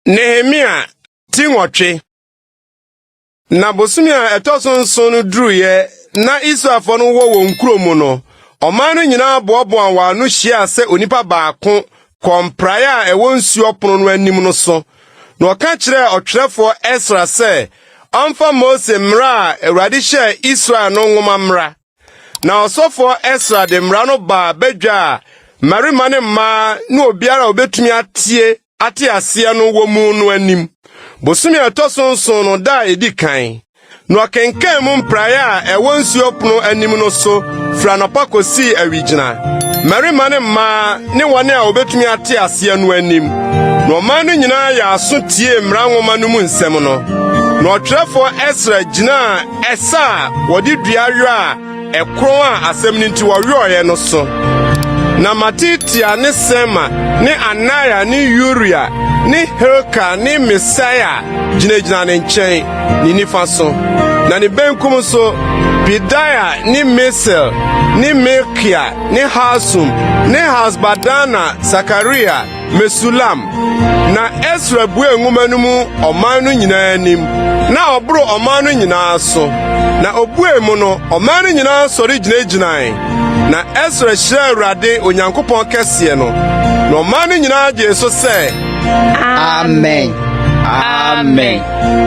Nehemia ti nwɔtwe na bosome a ɛtɔ so nson no duruiɛ na Israelfoɔ no wɔ wɔn kuro mu no, ɔman no nyinaa boaboa wɔn ano hyiaa sɛ onipa baako kɔɔ mpraeɛ a ɛwɔ nsuo pono no anim no so, na ɔka kyerɛɛ ɔtwerɛfoɔ Esra sɛ ɔmfa Mose mmara a Awurade hyɛɛ Israel no nwoma mmra. Na ɔsɔfoɔ Esra de mmara no baa badwa a mmarima ne mmaa ne obiara a obetumi atie ate aseɛ no wɔ mu no anim, bosome a ɛtɔ so nson no da a edi kan. Na ɔkenkan mu mpraeɛ a ɛwɔ nsuo pono anim no so firi anɔpa kosii awigyina, mmarima ne mmaa ne wɔn a obetumi ate aseɛ no anim. Na ɔman no nyinaa yɛ aso tiee mmara nwoma no mu nsɛm no. Na ɔtwerɛfoɔ Esra gyinaa Ɛsɛ a wɔde dua werɛ a ɛkorɔn a asɛm no nti wɔwerɛeɛ no so. Na Matitia ne Sema ne Anaia ne Uria ne Hilka ne Misaia gyinagyina ne nkyɛn, ne nifa so. Na ne benkum so, Pedaia ne Misael ne Malkia ne Hasum ne Hasbadana, Sakaria, Mesulam. Na Esra buee nwoma no mu ɔman no nyinaa anim, na ɔboro ɔman no nyinaa so. Na obuee mu no, ɔman no nyinaa sɔre gyinagyinae. Na Esra hyira Awurade Onyankopɔn kɛseɛ no, na ɔman no nyinaa gyee so sɛ, Amen! Amen!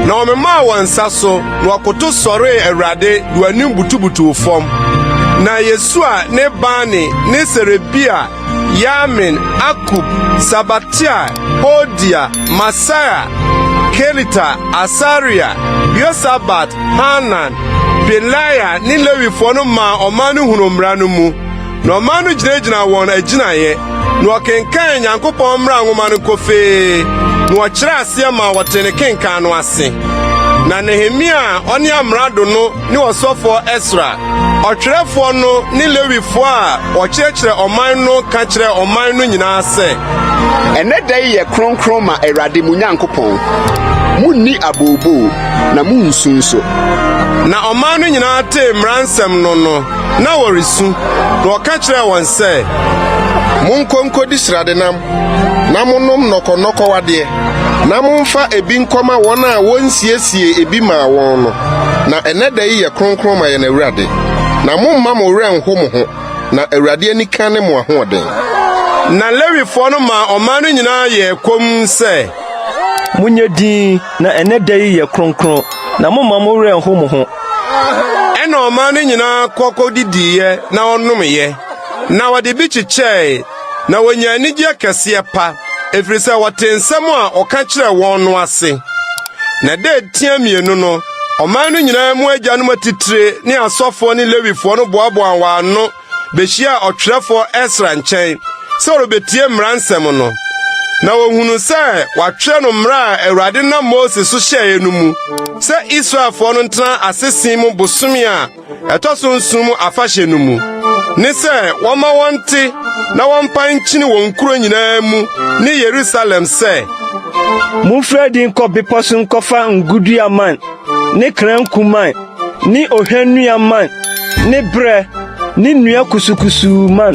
Na wɔmemaa wɔn nsa so, na wɔkoto sɔree Awurade de wɔn anim butubutuw fam. Na Yesua ne Bani ne Serebia Yamin, Akub, Sabatia, Hodia, Masaia, Kelita, Asaria, Yosabat, Hanan, Pelaia ne Lewifoɔ no maa ɔman no hunuu mmara no mu, na ɔman no gyinagyinaa wɔn agyinaeɛ, na wɔkenkan Nyankopɔn mmara nwoma no kofee, na wɔkyerɛɛ aseɛ maa wɔtee ne kenkan no ase. Na Nehemia a ɔne amrado no ne ɔsɔfoɔ Esra, ɔtwerɛfoɔ no ne Lewifoɔ a wɔkyerɛkyerɛ ɔman no ka kyerɛɛ ɔman no nyinaa sɛ, Ɛnɛ da yi yɛ kronkron ma Awurade mo Nyankopɔn. Monni abooboo, na monnsu nso. Na ɔman no nyinaa tee mmara nsɛm no no, na wɔresu, na wɔka kyerɛɛ wɔn sɛ, Monkɔ nkɔdi sradenam na monom nnɔkɔnnɔkɔw adeɛ, na momfa ebi nkɔma wɔn a wɔnsiesie ebi maa wɔn no, na ɛnnɛ da yi yɛ kronkron ma yɛn Awurade. Na momma mo werɛ nho mo ho, na Awurade anika ne mo ahoɔden. Na Lewifoɔ no maa ɔman no nyinaa yɛɛ komm sɛ. Monyɛ din, na ɛnnɛ da yi yɛ kronkron, na momma mo werɛ nho mo ho. Ɛnna ɔman no nyinaa kɔ kɔdidiiɛ na wɔnomeeɛ, na wɔde bi kyekyɛe. na wɔnya anigyeɛ kɛseɛ pa, ɛfiri sɛ wɔte nsɛm a ɔka kyerɛ wɔn no ase. Na dɛ tia mmienu no, ɔman no nyinaa mu agyanom atitire ne asɔfoɔ ne Lewifoɔ no boaboa wɔn ano bɛhyiaa ɔtwerɛfoɔ Esra nkyɛn sɛ ɔrebɛtie mmara nsɛm no. Na wɔhunu sɛ wɔatwerɛ no mmara a Awurade nam Mose so hyɛeɛ no mu sɛ Israelfoɔ no ntena asese mu bosome a ɛtɔ so nson mu afahyɛ no mu ne sɛ wɔma wɔnte na wɔmpa nkyene wɔn nkuro nyinaa mu ne Yerusalem sɛ momfiri adi nkɔ bepɔ so nkɔfa ngodua man ne kranku man ne ohwannua man ne berɛ ne nnua kusukusuu man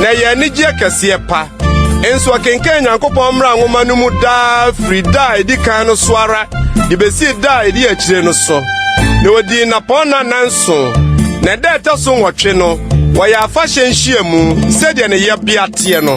na ɛyɛ anigyeɛ kɛseɛ pa. Nso ɔkenkan Nyankopɔn mmara nwoma no mu daa firi da a ɛdi kan no so ara de bɛsii da a ɛdi akyire no so. Na ɔdii nnapɔnna nnanso, na ɛda a ɛtɔ so nwɔtwe no, wɔyɛ afahyɛ nhyiamu sɛdeɛ ne yɛbea teɛ no.